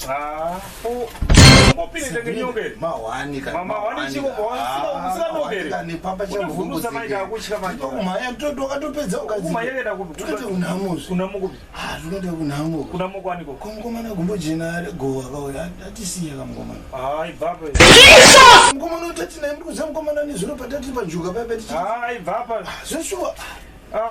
Ah, oh. mkomana utatinaye mrikuziva mkomana nezvino patati panjuka paya patichii zveshuwa ah.